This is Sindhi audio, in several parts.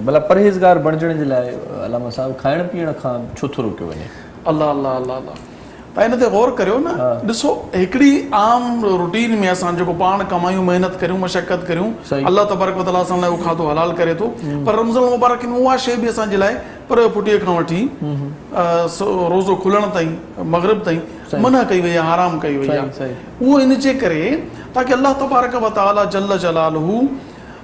ڀلا پرهيزگار بڻجڻ جي لاء علامه صاحب کائڻ پيئڻ کان ڇو ٿو روڪيو وڃي؟ الله الله الله الله تان ان تي غور ڪريو نه ڏسو هڪڙي عام روٽين ۾ اسان جيڪو پاڻ ڪمايون محنت ڪريون مشقت ڪريون الله تبارڪ وتعالي اسان لاء اهو کاڌو حلال ڪري ٿو پر رمضان المبارڪ ۾ اها شيء به اسان جي لاء پرهه پٽي کان وٺي روزو کلڻ تائين مغرب تائين منع ڪئي وئي آهي حرام ڪئي وئي آهي اهو ان جي ڪري تاڪه الله تبارڪ وتعالي جل جلاله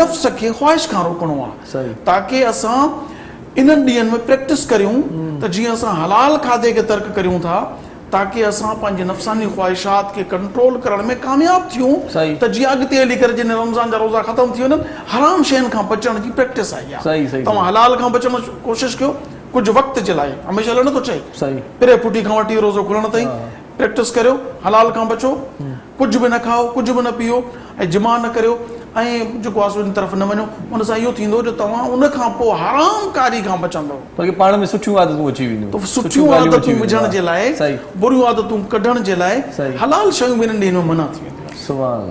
نفس کي خواهش کان روڪڻو آ تاڪه اسان انهن ڏينهن ۾ پريڪٽس ڪريون ته جيئن اسان حلال کاڌي کي ترڪ ڪريون ٿا تاڪه اسان پنهنجي نفساني خواهشات کي ڪنٽرول ڪرڻ ۾ ڪامياب ٿيون ته جيئن اڳتي هلي ڪري جڏهن رمضان جا روزا ختم ٿي وڃن حرام شين کان بچڻ جي پريڪٽس آئي آ توهان حلال کان بچڻ جي ڪوشش ڪيو ڪجهه وقت جي لاء هميشه لاء نه ٿو چئي پري ڦٽي کان وٺي روزو کلڻ تائين پريڪٽس ڪريو حلال کان بچو ڪجهه به نه کائو، ڪجهه به نه پيئو ۽ جماع نه ڪريو ۽ جيڪو آهي سو ان طرف نه وڃو، ان سان اهو ٿيندو جو توهان ان کان پوء حرام ڪاري کان بچندؤ. بلڪه پاڻ ۾ سٺيون عادتون اچي وينديون. ته سٺيون عادتون وجهڻ جي لاء، بريون عادتون ڪڍڻ جي لاء حلال شيون به انهن ڏينهن ۾ منع ٿي وينديون آهن.